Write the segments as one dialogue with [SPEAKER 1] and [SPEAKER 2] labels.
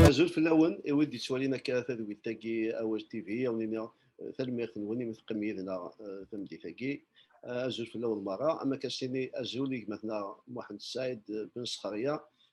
[SPEAKER 1] Azul fell-awen, i wid d-yettwalin akka tadwilt-agi Awal TV, awen iniɣ tanemmirt-nwen imi teqqim yid-neɣ tameddit-agi. Azul fell-awen merra, am akka s-tini azul i gma-tneɣ Muḥend Saɛid Ben Sxerya,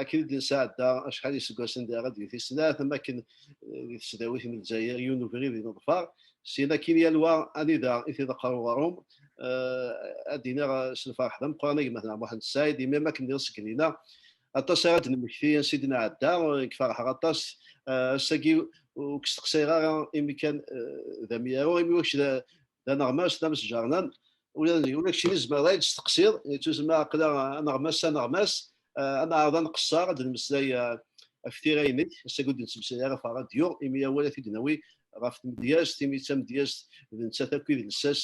[SPEAKER 1] akken i d-nesɛedda acḥal iseggasen di ara d-giti snat am akken di tesdawit n Lezzayer yiwen ubrid i neḍfar syin akin yal wa anida i t-iḍeqqer uɣrum ad d-iniɣ s lferḥ d ameqqran agmatna Muḥend Ssaɛid imi am akken d iṣeggnin-a aṭas ara d-nemmekti ansi i d-nɛedda nekk ferḥeɣ aṭas ass-agi ur k-steqsayeɣ ara imi kan d amyaru imi wakk d aneɣmas d amesǧernan ula d keččini tzemreḍ ad d-testeqsiḍ yettuzma aqla aneɣmas s aneɣmas ad neɛreḍ ad nqeṣṣer ad d-nemmeslay ɣef tira-inek ass-agi ur d-nettmeslay ara ɣef ṛṛadyu imi awal ad t-id-nawi ɣef tmedyazt imi d tamedyazt d nettat akk idles-as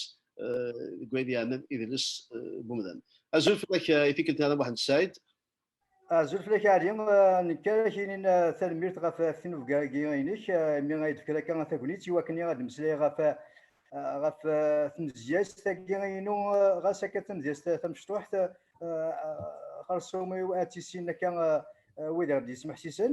[SPEAKER 1] deg wayen yeɛnan idles n umdan. Azul fell-ak i tikkelt-nni a Muḥend Ssaɛid. Azul
[SPEAKER 2] fell-ak Ɛli, nekk ara ak-inin tanemmirt ɣef tinubga-agi-inek, imi ay d-tefkiḍ akka tagnit i wakken ad d-meslayeɣ ɣef ɣef tmedyazt-agi-inu, ɣas akka d tamedyazt tamecṭuḥt, xerṣum-iw ad t-issinen akka wid i ɣ-d-yesmeḥsisen.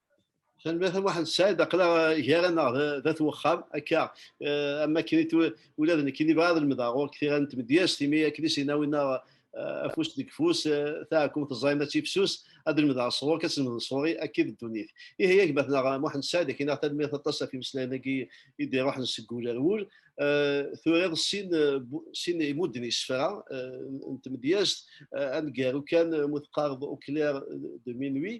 [SPEAKER 1] Tanemmirt a Muḥend Saɛid, aql-aɣ gar-aneɣ d at wexxam akka eh, am wakken ula d nekkini bɣiɣ ad lemdeɣ ɣur-k tira n tmedyazt imi akken i s-yenna winna eh, afus deg fus eh, taɛkumt ẓẓayen ad tifsus ad lemdeɣ sɣur-k ad tlemdeḍ sɣur-i akka i d ddunit. Ihi yak batneɣ Muḥend Saɛid akken aɣ tanemmirt aṭas ɣef imeslayen-agi i d-iruḥen seg wul ar wul. Turiḍ sin sin imudden isefra n tmedyazt aneggaru kan mu teqqareḍ Auclair de minuit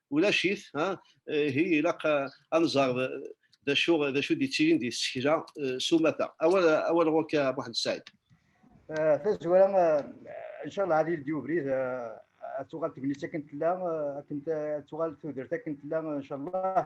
[SPEAKER 1] ulac-it ha ihi ilaq ad nẓer d acu d acu d-yettilin di tsekla s umata awal awal ɣur-k a Muḥend Saɛid tazwara
[SPEAKER 2] inchallah ad yeldi ubrid ad tuɣal tegnit akken tella akken ad tuɣal tudert akken tella inchallah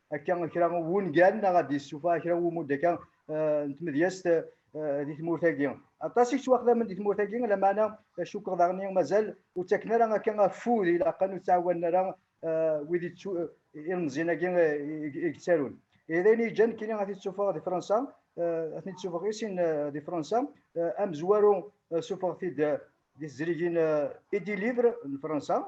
[SPEAKER 2] akka kra n wungal neɣ ad d-yessufeɣ kra n wumudd akka eh, n tmedyazt eh, di tmurt-agi. Aṭas i yettwaxdamen di tmurt-agi, lameɛna eh, cukkeɣ daɣen mazal ur ttaken ara akka afud ilaqen ur ttɛawanen ara wid ilmeẓyen-agi i yettarun. d ayen yeǧǧan kini ad t-id-sufeɣ di Fransa, ad t-id-sufeɣ i sin di Fransa, amezwaru sufeɣ-t-id di tezrigin Edi Livre n Fransa,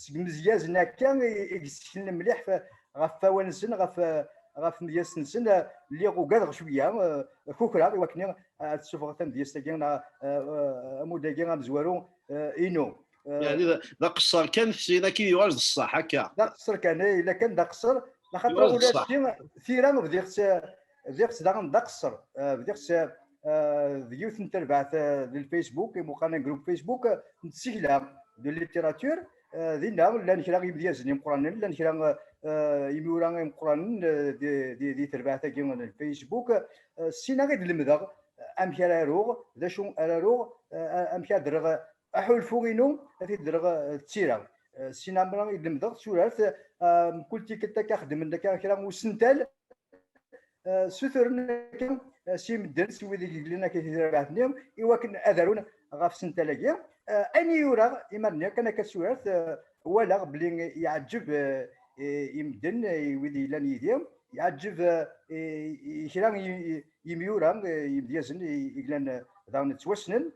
[SPEAKER 2] seg imezyazen akka i yesseknen mliḥ ɣef wawan-nsen ɣef ɣef tmedyazt-nsen lliɣ ugadeɣ cwiya kukreɣ i wakken ad ssufɣeɣ tamedyazt-agi neɣ amud-agi amezwaru inu يعني
[SPEAKER 1] d aqeṣṣer kan sin akka yuɣal d ṣṣeḥ akka d aqeṣṣer kan ila
[SPEAKER 2] kan d aqeṣṣer laxaṭer ula d
[SPEAKER 1] tira bdiɣ
[SPEAKER 2] bdiɣ daɣen d aqesser bdiɣ d yiwet n terbaɛt d lfacebook imuqan group facebook n tsekla d littérature dinna llan kra imedyazen imeqranen llan kra imura imeqranen di terbaɛt-agi n lfacebook ssinaɣ i d-lemdeɣ amek ara aruɣ d acu ara aruɣ amek ad rreɣ aḥulfu-inu ad t-id-dreɣ d tira sin amra i lemdeɣ turart mkul tikkelt akka xedmen akka kra n usental suturen akka si medden si wid i yeglen akka tidrabaɛt-nni i wakken ad arun ɣef sental-agi ayen i yuraɣ iman-nni kan akka turart walaɣ bli yeɛǧeb i medden i wid yellan yid-i yeɛǧeb kra yimyura yimedyazen i yellan daɣen ttwassnen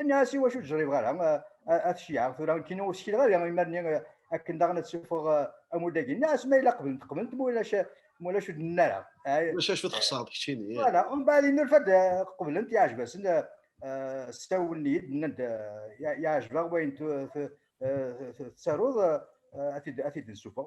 [SPEAKER 2] Nniɣ-as i wacu ur ara at ceyɛeɣ tura nekkini ur skileɣ ara imarni akken daɣen ad ssufɣeɣ amudagi. Nniɣ-as ma yella qeblent qeblent ma ulac ma ulac ur d-nenna ara. Ulac acu txeṣreḍ
[SPEAKER 1] keččini. Voilà, mbaɛd innulfa-d
[SPEAKER 2] qeblent yeɛjeb-asen sawlen-iyi-d nnan-d yeɛjeb-aɣ wayen tettaruḍ ad t-id-nsufeɣ.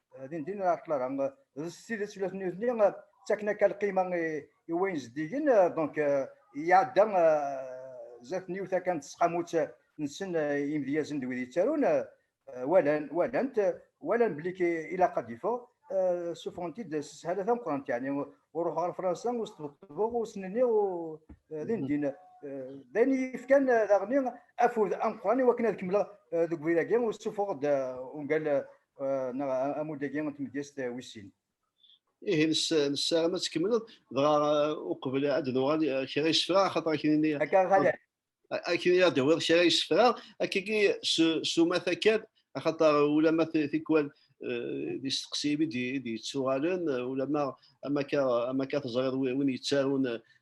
[SPEAKER 2] din din ɣer ṭṭlaba d s tidet ula d nutni ttaken akka lqima i wayen zeddigen donc iɛedda zdat n yiwet akan tesqamut nsen imedyazen d wid yettarun walan walant walan belli ilaq ad d-yeffeɣ suffɣen-t-id s sshala tameqqrant yani ur ruḥeɣ ɣer fransa ur sṭebṭbeɣ ur snenniɣ din din d ayen yefkan daɣen afud ameqqran i wakken ad kemmleɣ deg ubrid-agi ur ssuffuɣeɣ-d ungal neɣ amud-agi n tmedyazt wis sin. Ihi
[SPEAKER 1] nessaram ad tkemmleḍ dɣa uqbel ad nuɣal kra yessefra axaṭer aknini. Akka
[SPEAKER 2] xala. Aknini ad
[SPEAKER 1] d-tawiḍ kra yessefra akkagi s umata kan axaṭer ulama tikwal d isteqsiyen i d-yettuɣalen ulama amaka teẓriḍ win yettarun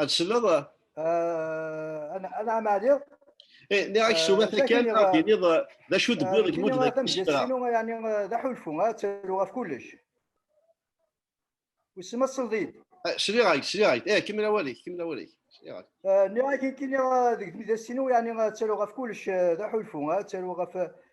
[SPEAKER 1] Ad tselleḍ?
[SPEAKER 2] Ana ana amaɛli. Eh, nniɣ ak
[SPEAKER 1] suma eh, takkan ad d-tiniḍ eh, d acu d-wwiḍ deg mudda d isefra. Yani
[SPEAKER 2] d aḥulfu, ad ttaruɣ ɣef kullec. Wissen ma tselḍ-iyi-d.
[SPEAKER 1] Sliɣ-ak, sliɣ-ak. Eh, kemmel awal-ik, kemmel awal-ik. Sliɣ-ak. Nniɣ-ak ikini
[SPEAKER 2] deg tmidasinu, yani ad ttaruɣ ɣef kullec d aḥulfu, ad ttaruɣ ɣef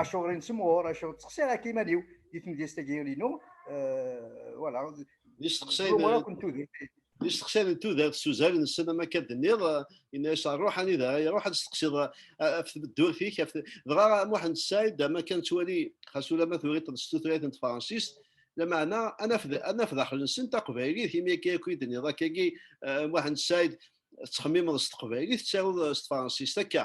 [SPEAKER 2] Acuɣer i nesemɣur, acuɣer ttexsiɣ akka iman-iw di tmedyazt-agi inu, wala. Di
[SPEAKER 1] steqsayen di steqsayen n tudert s uzal nsen am akka d-nniḍ yenna-as ṛuḥ anida ara iṛuḥ ad steqsiḍ af tmeddurt-ik af dɣa Muḥend Said am akka nettwali xas ulamma turiḍ-d s tutlayt n tefransist lameɛna ad naf ad naf daxel-nsen taqbaylit imi akka akk i d-nniḍ akkagi Muḥend Said tettxemmimeḍ s teqbaylit tettaruḍ s tefransist akka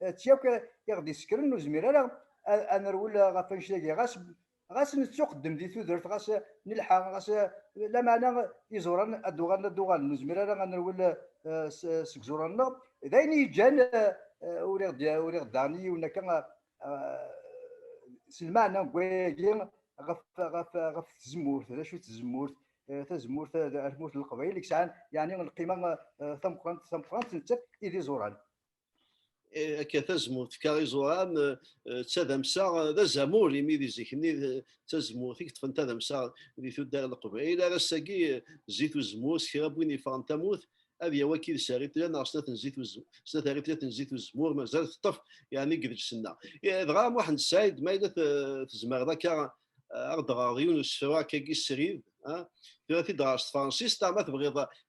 [SPEAKER 2] d ti akk i ɣ-d-isekkren ur zmir ara ad nerwel ɣef annect-agi ɣas ɣas nettuqeddem di tudert ɣas nelḥa ɣas lameɛna iẓuran ad d-uɣalen ad d-uɣalen ur zmir ara ad nerwel seg iẓuran-nneɣ d ayen i yeǧǧan ur iɣ-d-daɣen i yiwen akka s lmeɛna n wayagi ɣef ɣef ɣef tzemmurt d acu tzemmurt tazemmurt ar tmurt n leqbayel i yesɛan yeɛni lqima tameqrant tameqrant nettat i d iẓuran akka tazmurt
[SPEAKER 1] fka iẓuram d tadamsa d azamul imi di zik-nni d tazmurt i yeṭṭfen tadamsa di tuddar n leqbayel ar ass-agi zzit uzemmur s kra n win yeffɣen tamurt ad yawi akka i d-sari tella neɣ snat n zzit uzemmur snat ar tlat n zzit uzemmur mazal teṭṭef yani deg deg-senna dɣa Muḥend Said ma yella tezmereḍ akka aɣ-d ɣer yiwen usefru akka-gi srid tura t-id ɣer s tefransist ma tebɣiḍ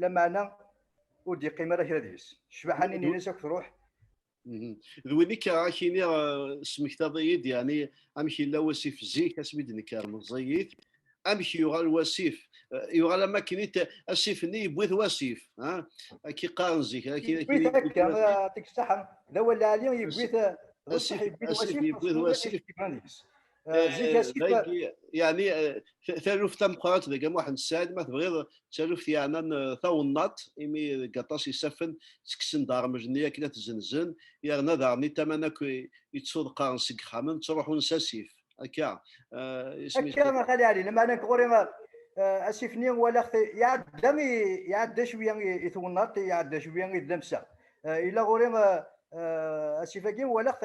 [SPEAKER 2] lameɛna ur d-yeqqim ara kra deg-s ccbaḥa-nni n Inès akk truḥ d
[SPEAKER 1] win akka ad k-iniɣ smektaḍ-iyi-d yeɛni amek yella wasif zik asmi d-nekker meẓẓiyit amek yuɣal wasif yuɣal am akken asif-nni yewwi-t wasif akka iqqaren zik yewwi-t akka
[SPEAKER 2] tiksaḥa d awal lɛali yewwi-t asif yewwi-t wasif يعني
[SPEAKER 1] taluft tameqqrant deg Muḥend Ssaɛid ma tebɣiḍ taluft yeɛnan tawennaḍt imi deg aṭas isaffen ttekksen-d ṛṛmej-nni akken ad t-zzenzen yerna daɣen itaman akk yettuḍeqqaren seg yixxamen ttruḥun s asif akka akka a Xali Ɛli
[SPEAKER 2] lameɛna nekk ɣur-i asif-nni walaɣ-t iɛedda iɛedda cwiya i twennaḍt iɛedda cwiya i tdamsa yella ɣur-i asif-agi walaɣ-t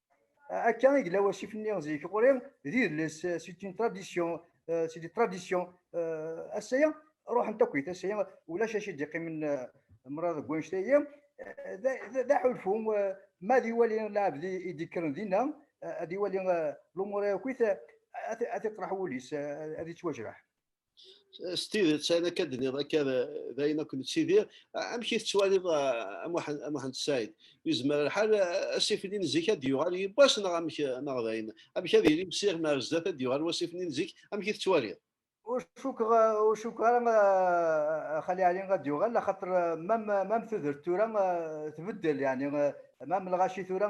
[SPEAKER 2] Akka i yella wasif-nni zik ɣur-i d idles c'est une tradition c'est des traditions ass-aya ruḥent akkit ass-aya ulac acu d-iqqimen mraḍ deg wanect-agi d aḥulfu ma ad iwali lɛebd i d-ikkren dinna ad iwali lumuṛ-a akkit ad iṭraḥ wul-is ad ittwajreḥ s
[SPEAKER 1] tidet ayen akka d-nniḍ akka d ayen akk nettidir amek i tettwaliḍ Muḥend Said yezmer lḥal asifni n zik ad d-yuɣal yiwwas neɣ amek neɣ d ayen amek ad yili msiɣ mi ar zdat ad d-yuɣal wasifni n zik amek i tettwaliḍ ur cukkeɣ
[SPEAKER 2] ur cukkeɣ ara xali ali ad d-yuɣal axaṭer mam tudert tura tbeddel yani mam lɣaci tura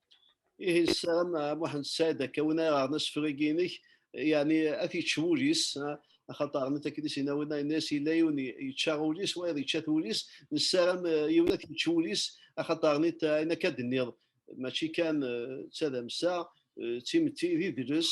[SPEAKER 1] Ihi nessaram a Muḥend Sɛid akka win ara ɣren asefreg-inek, yani ad t-yečč wul-is, axaṭer rnit akken i s-yenna winna, yenna-as yella yiwen yečča ul-is, wayeḍ yečča-t wul-is, nessaram yiwen ad t-yečč wul-is, axaṭer rnit ayen akka d-tenniḍ, mačči kan d tadamsa, d timetti, d idles,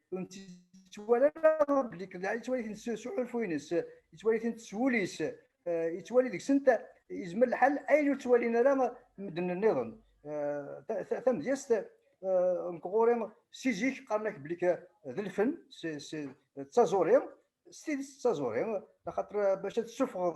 [SPEAKER 2] ur nettwali ara belli Qelɛa yettwali-ten s uḥulfu-nnes, yettwali-tent s wul-is, yettwali deg-sent yezmer lḥal ayen ur ttwalin ara medden nniḍen. Tamedyazt nekk ɣur-i si zik qqaren-ak belli d lfen, d taẓuri, s tidet d taẓuri, axaṭer bac ad tessufɣeḍ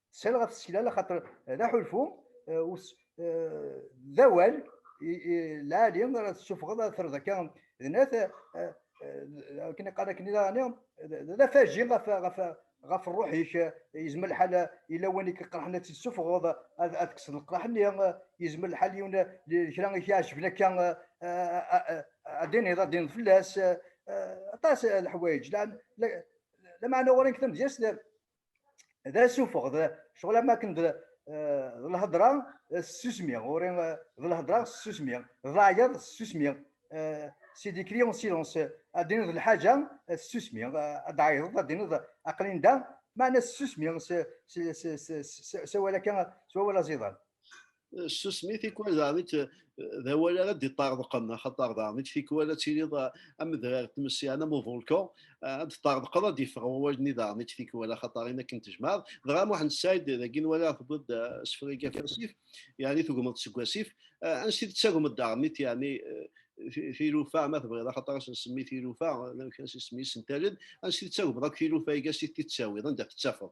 [SPEAKER 2] Sel ɣef tsekla laxaṭer d aḥulfu d awal lɛali ara tessufɣeḍ ad terreḍ akka d nat akken iqal akken i daɣani d afaji ɣef ɣef ɣef ṛṛuḥ-ik yezmer lḥal yella win i k-iqerḥen ad tt-tessufɣeḍ ad tekkseḍ leqraḥ-nni yezmer lḥal yiwen kra i k-iɛejben akka ad d-iniḍ ad d-iniḍ fell-as aṭas leḥwayeǧ lameɛna ɣur-i deg tamedyazt d asufeɣ d ccɣel am akken d lhedra ssusmi ɣuri d lhedra ssusmi d laɛyaḍ ssusmi si dikri on silence ad d-tiniḍ lḥaǧa ssusmi ad d-ɛayḍeḍ ad d-tiniḍ aqlin da meɛna ssusmi s awal akka s wawal aẓidan ssusmi
[SPEAKER 1] tikwal daɣen d awal ara d-iṭṭerḍqen axaṭer daɣen tikwal ad tiliḍ amedrar tmesyan am uvulku ad d-ṭṭerḍqeḍ ad d-iffeɣ wawal-nni daɣen tikwal axaṭer in akken tejmaɛeḍ dɣa Muḥend Ssaɛid dagi nwala tewwiḍ-d asefreg ɣef wasif yani tugmeḍ seg wasif ansi d-tettagmeḍ daɣen yani tilufa ma tebɣiḍ axaṭer ad nsemmi tilufa amek as isem-is n taled ansi d-tettagmeḍ akk tilufa-agi ansi d-tettawiḍ anda tettafeḍ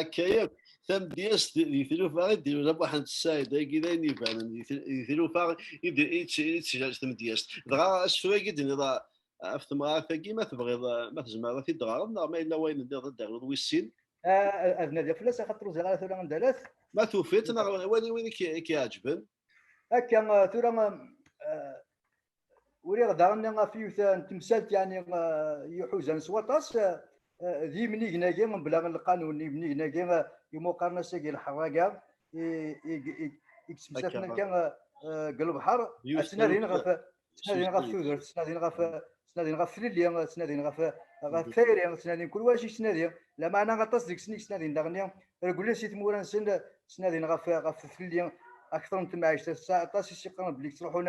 [SPEAKER 2] akka
[SPEAKER 1] yakk tamedyazt di tlufa i d-yura Muḥend Ssaɛid agi d ayen ibanen di tlufa i d-teǧǧaǧ tamedyazt dɣa asefru-agi d-nniḍ ɣef temɣart-agi ma tebɣiḍ ma tezmreḍ ad t-id-tɣareḍ neɣ ma yella wayen nniḍ ad d-terreḍ wis sin ad nadiɣ
[SPEAKER 2] fell-as axaṭer ur ẓriɣ ara tura anda lat ma tufiḍ neɣ
[SPEAKER 1] wali win i k-iɛeǧben akka
[SPEAKER 2] tura uriɣ daɣen ɣef yiwet n temsalt yani yuḥuzan s waṭas d yimnigen-agi mebla lqanun yimnigen-agi imuqarnas-agi lḥerraga i yettmeslaten akka deg lebḥer ttnadin ɣef ttnadin ɣef tudert ttnadin ɣef ttnadin ɣef tlelli ttnadin ɣef ɣef tayri ttnadin kul wacu ttnadin lameɛna aṭas deg-sen i ttnadin daɣen reglen si tmura-nsen ttnadin ɣef ɣef tlelli akteṛ n temɛict aṭas i s-yeqqaren belli yettruḥun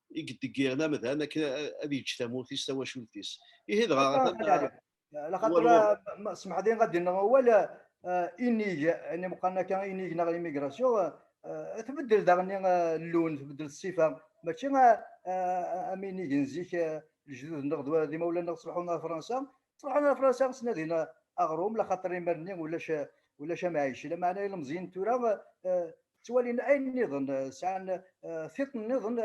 [SPEAKER 1] i yeddeggiren amdan akken ad yeǧǧ tamurt-is tawacult-is ihi dɣa
[SPEAKER 2] laxaṭer semḥdin ɣad yenneɣ awal inig yani meqqan akka inig neɣ immigration tbeddel daɣenni llun tbeddel ssifa mačči am inig n zik lejdud-nneɣ d imawlan-nneɣ ṣleḥun ɣer fransa ṛuḥen ɣer Fransa ttnadin aɣrum laxaṭer iman-nni ulac ulac amɛic lameɛna ilemẓiyen tura ttwalin ayen nniḍen sɛan tiṭ nniḍen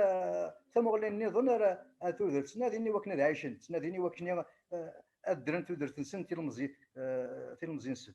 [SPEAKER 2] tamuɣli nniḍen ar tudert ttnadin iwakken ad ɛicen ttnadin iwakken ad ddren tudert-nsen tilmeẓi tilmeẓi-nsen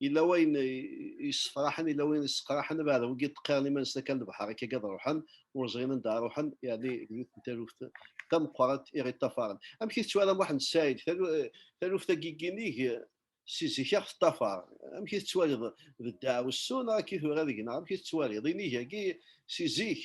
[SPEAKER 1] yella wayen yessefraḥen yella wayen yesseqraḥen ad ɛad wigi ṭqiren iman-nsen akka lebḥer akka gad ruḥen ur ẓrin anda ruḥen yani yiwet n taluft tameqqrant i ɣ-iṭṭafaren amek i tettwalam Muḥend Saɛid taluft agiginig si zik aɣ teṭṭafar amek i tettwaliḍ d ddeɛwessu neɣ akka i tura deg-neɣ amek i tettwaliḍ inig-agi si zik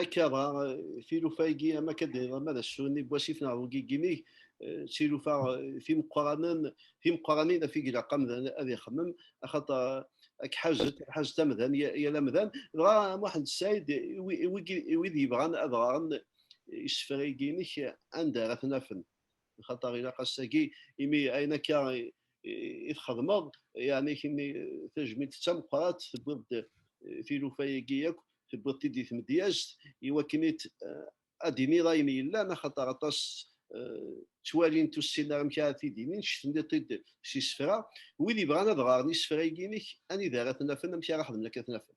[SPEAKER 1] Akka, tilufa-agi am akka d ama d asuni n wasif neɣ ugigimig, tilufa timeqqranen, timeqqranin af i ilaq amdan ad ixemmem, axaṭer ad k-ḥazet, ad ḥazet amdan, yal amdan. Dɣa Muḥend Ssaɛid, i wid yebɣan ad ɣren isefra-agi-inek, anda ara ten-afen? lxaṭer ilaq ass-agi imi ayen akka i txedmeḍ yani kini tajmilt d tameqqrat tewwiḍ-d tilufa-agi akk tewwiḍ-t-id di tmedyazt iwakken ad d-iniḍ ayen yellan axaṭer aṭas ttwalint ur ssinen ara amek ara t-id-inin cetndiḍ-t-id s isefra wid yebɣan ad ɣaren isefra-agi-inek anida ara ten-afen amek ara xedmen akka ad ten-afen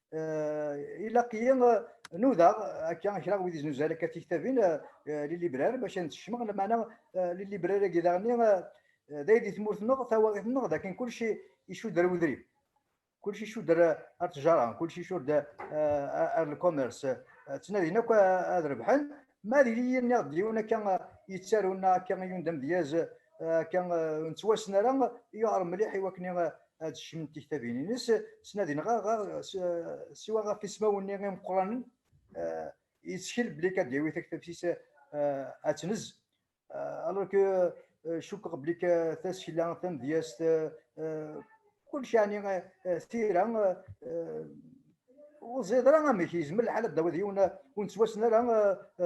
[SPEAKER 2] ilaq-iyi nudaɣ akka kra wid iznuzal akka tiktabin lilibrar bac ad nsekcmeɣ lamana lilibrar-agi daɣenni d ay di tmurt-nneɣ tawaɣit-nneɣ d akken kulci icuder udrim kulci icuder ar tjara kulci icuder ar lcommerce ttnadin akk ad rebḥen ma d yili-nniɣ d yiwen akka yettarun akka i yundam dyaz akka nettwassen ara yuɛer mliḥ i wakken ad cnunt tiktabin-nnes, ttnadin ɣer ɣer siwa ɣef ismawen-nni imeqqranen, yettkel belli akka d-yawi taktabt-is ad tnez. Alors que cukkeɣ belli tasekla tamedyazt kullec yeɛni tira ur ẓid ara amek yezmer lḥal ad d-tawiḍ yiwen ur nettwassen ara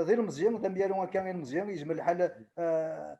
[SPEAKER 2] d ilmeẓyen d amyaru akka ilmeẓyen yezmer lḥal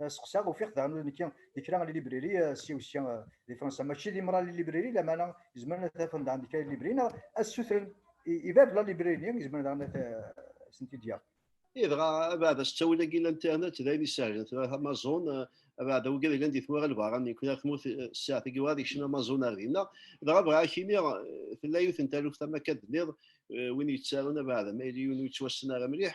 [SPEAKER 2] Euh, seqsaɣ ufiɣ daɣen nekki di kra n libriri euh, si wesya euh, di fransa mačči di mra n libriri lamana izemren ad afen daɣen di kra n libri neɣ ad sutren i bab la libriri-nni izemren daɣen ad sent-id-yaɣ idɣa
[SPEAKER 1] abeɛda s ttawil-agi n internet d ayen isehlen tura amazon abeɛda wigi yellan di tmura lbaṛa n kra tmurt ssaɛt-agi werɛad ikcem amazon ar dinna dɣa bɣiɣ ad ak-iniɣ tella yiwet n taluft ama akka d-nniḍ win yettarun abeɛda ma yili yiwen ur yettwassen ara mliḥ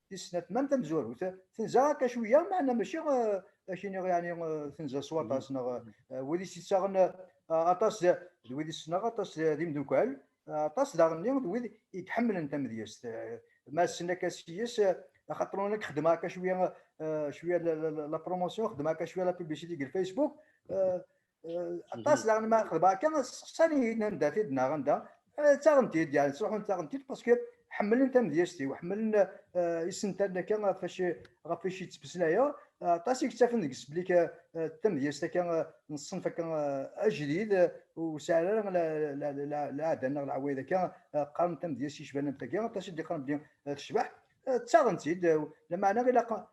[SPEAKER 2] tis snat mam tamezwarut tenza akka cwiya meɛna maci ak iniɣ yani tenza s waṭas neɣ wid i s-yettaɣen aṭas d wid i ssneɣ aṭas d imdukkal aṭas daɣenni d wid i iḥemmlen tamedyazt ma ssen akka s-yes axaṭer ur nekk xedmeɣ akka cwiya cwiya la promotion xedmeɣ akka cwiya la publicité deg lfacebook aṭas mhm. daɣen ma xedba akka sseqsan-iyi-d anda t-id neɣ anda eh, ttaɣen-t-id yani ttruḥun ttaɣen-t-id paske ḥemmlen tamedyazt-iw ḥemmlen eh, isental akka ɣef wacu ɣef wacu yettmeslayeɣ aṭas i yettafen deg sblik eh, tamedyazt akka n ṣṣenf akka ajdid ur sɛin ara leɛda neɣ leɛwayed akka qqaren tamedyazt yecban am tagi aṭas i d-yeqqaren belli tecbeḥ ttaɣen-tt-id lameɛna ilaq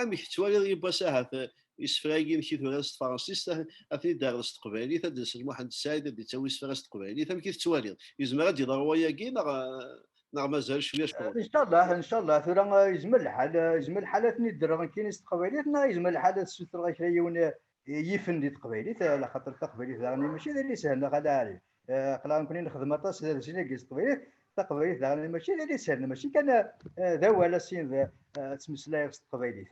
[SPEAKER 1] Amek tettwaliḍ yiwwas ahat eh, isefra-agi amek i turar s tefransist eh, ad ten-id-terreḍ s teqbaylit ad d-nsel Muḥend Sɛid ad d-yettawi isefra s teqbaylit amek i tettwaliḍ yezmer ad d-yeḍru wayagi neɣ eh, neɣ mazal cwiya cwiya incallah incallah
[SPEAKER 2] tura yezmer lḥal yezmer lḥal ad ten-id-rreɣ nekkini s teqbaylit neɣ yezmer lḥal ad sutreɣ kra yiwen yifen di teqbaylit ala xaṭer taqbaylit daɣen mačči d alis sehleɣ ala ɛli qlaɣ nekni nexdem aṭas d alis-agi s teqbaylit taqbaylit daɣen mačči d alis sehleɣ mačči kan d awal asin d ttmeslayeɣ s teqbaylit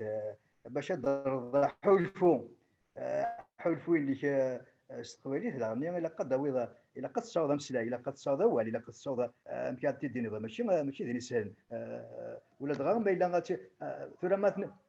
[SPEAKER 2] bac ad d-rreḍ ḥulfu ḥulfu ilik s teqbaylit daɣen ilaq ad d-tawiḍ ilaq ad tessaweḍ ameslay ilaq ad tessaweḍ awal ilaq ad tessaweḍ amek ad t-id-tiniḍ mačči mačči d alis sehlen ula dɣa ma yella tura ma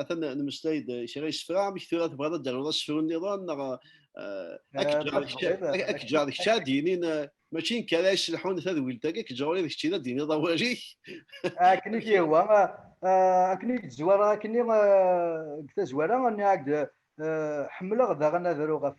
[SPEAKER 1] atan nemmeslay-d kra yesefra amek tura tebɣiḍ ad d-taruḍ asefru niḍen neɣ akk-ǧar d kečč ad d-yinin mačči nekk ara yesselḥun tadwilt-agi kečč ɣur-i d kečč i d d-yiniḍ awal-ik akken i
[SPEAKER 2] k-yehwa akken i k-d-zwara akken i deg tazwara ḥemmleɣ daɣen ad aruɣ ɣef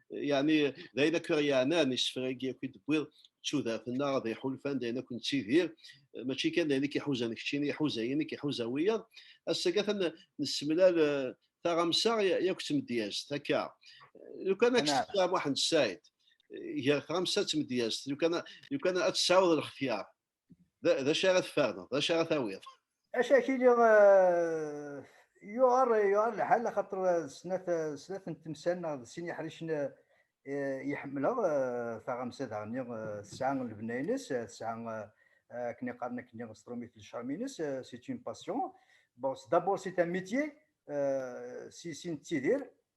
[SPEAKER 1] يعني d ayen akk i yeɛnan isefra-agi akk i d-tewwiḍ d tudert-nneɣ d iḥulfan d ayen akk nettidir mačči kan d ayen i k-iḥuzan keččini iḥuza yinek iḥuza wiyaḍ ass-agi atan nessemlal taɣamsa yakk d tmedyazt akka lukan ad k-ssefra Muḥend
[SPEAKER 2] Saɛid
[SPEAKER 1] gar tɣamsa d tmedyazt lukan ad tesɛuḍ lxetyar d acu ara tferneḍ d acu ara tawiḍ acakili
[SPEAKER 2] yuɣar yuɣar lḥal axaṭer snat snat n temsal neɣ d sin iḥricen yeḥemmleɣ taɣamsa daɣenni tesɛa lebna-ines tesɛa akken iqaren akken s trumit n lecram-ines si une passion bon d'abord c'est un métier si si nettidir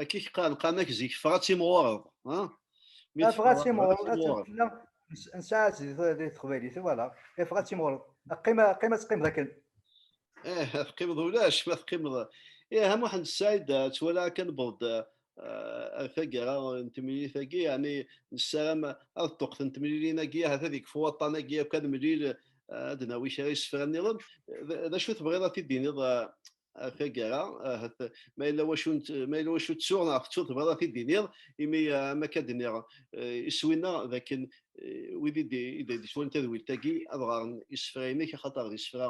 [SPEAKER 2] Akka i k-qqar lqamak
[SPEAKER 1] zik, ffeɣ ad timɣureḍ.
[SPEAKER 2] Ffeɣ ad timɣureḍ, ad tella nsaɛet di teqbaylit, voilà. Ffeɣ ad timɣureḍ. Qqim ad teqqimeḍ akken. Eh, ad
[SPEAKER 1] teqqimeḍ ulac, ma teqqimeḍ. Eh, a Muḥend Saɛid, ttwalaɣ akka newweḍ-d ar taggara n temlilit-agi, yeɛni nessaram ad ṭṭuqten temlilin-agi, ahat ad ikfu waṭṭan-agi akk ad nemlil, ad d-nawi kra isefra-nniḍen. D acu tebɣiḍ ad t-id-tiniḍ taggara ahat ma yella wacu ma yella wacu ttuɣ neɣ tettuḍ tebɣiḍ ad t-id-tiniḍ imi am akka d-nniɣ iswi-nna d akken wid i d-yeswan tadwilt-agi ad ɣaren isefra-inek axaṭer d isefra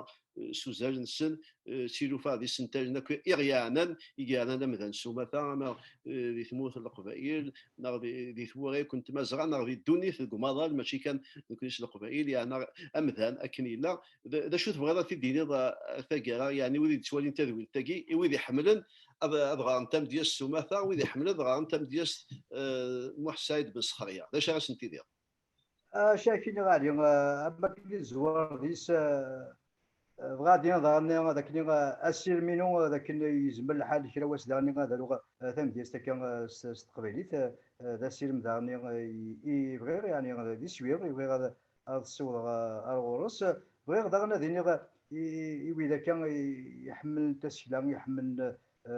[SPEAKER 1] s uzal-nsen d tilufa d isental-nni akk i ɣ-yeɛnan i yeɛnan amdan s umata ama di tmurt n Leqbayel neɣ di tmura akk n Tmazɣa neɣ di ddunit deg umaḍal mačči kan nekkni s Leqbayel yeɛna amdan akken yella d acu tebɣiḍ ad t-id-tiniḍ taggara yeɛni wid yettwalin tadwilt-agi i wid iḥemmlen ad ɣren tamedyazt s umata wid iḥemmlen ad ɣren tamedyazt Muḥ Saɛid Ben Sexrya d acu ara sen-tiniḍ? Acak
[SPEAKER 2] ini ɣali am wakken i tezwar deg-s bɣa ad d-iniḍ daɣenni d akken asirem-inu d akken yezmer lḥal kra wass daɣenni ad aruɣ tamedyazt akka s teqbaylit d asirem daɣenni i bɣiɣ yeɛni d iswi i bɣiɣ ad ssiwḍeɣ ar ɣur-s. Bɣiɣ daɣen ad iniɣ i wid akka iḥemmlen tasekla, iḥemmlen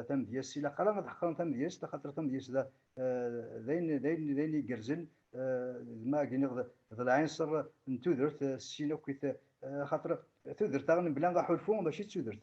[SPEAKER 2] tamedyazt, ilaq ara ad ḥeqren tamedyazt, axaṭer tamedyazt d ayen igerrzen, d ma ag-iniɣ d lɛinṣer n tudert s sin akk-it, axaṭer tudert daɣen mebla aḥulfu mačči d tudert,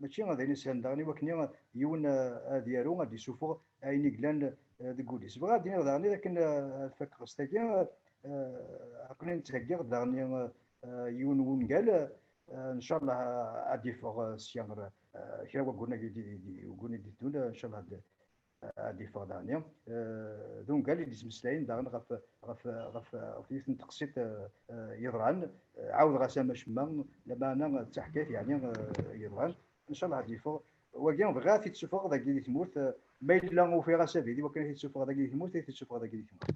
[SPEAKER 2] mačči ad ayen islan daɣen iwakken yiwen ad yaru ad d-isuffeɣ ayen i glan deg wul-is. Bɣiɣ ad d-iniɣ daɣen akken ad fakeɣ s tagi aqli nettheggiɣ daɣen yiwen wungal incallah ad d-iffeɣ sya kra wayyuren-agi d-yeddun incallah ad yeffeɣ daɣni d ungal i d-yettmeslayen daɣen ɣef ɣef ɣef ɣef yiwet n teqsiṭ yeḍran ɛawdeɣ-as ama cemma lamaɛna d taḥkayt yeɛni yeḍran incallah ad yeffeɣ wagi bɣiɣ ad t-id-sufɣeɣ dagi di tmurt ma yella ufiɣ asabi di wakken ad t-id-sufɣeɣ dagi di tmurt ad t-id-sufɣeɣ dagi di tmurt.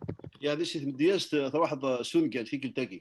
[SPEAKER 2] Yeɛni si tmedyazt
[SPEAKER 1] truḥeḍ s ungal tikkelt-agi.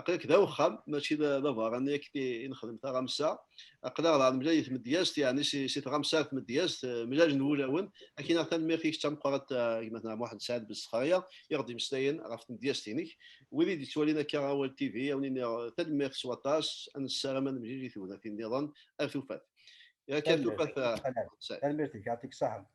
[SPEAKER 1] aql-ak d awexxam mačči d abeṛṛani akken i nexdem taɣamsa aql-aɣ daɣ nemlal i tmedyazt yeɛni si tɣamsa ar tmedyazt eh, mlalen wulawen akken neɣ tanemmirt-ik d tameqqrant eh, gma Tna Muḥend Saɛid Ben Sexraya i ɣ-d-imeslayen ɣef tmedyazt-inek wid i d-yettwalin akka awal TV awen iniɣ eh, tanemmirt s waṭas ad nessaram ad nemlil i tegnatin niḍen ar tufat. Tanemmirt-ik,
[SPEAKER 2] yɛṭik ṣaḥen.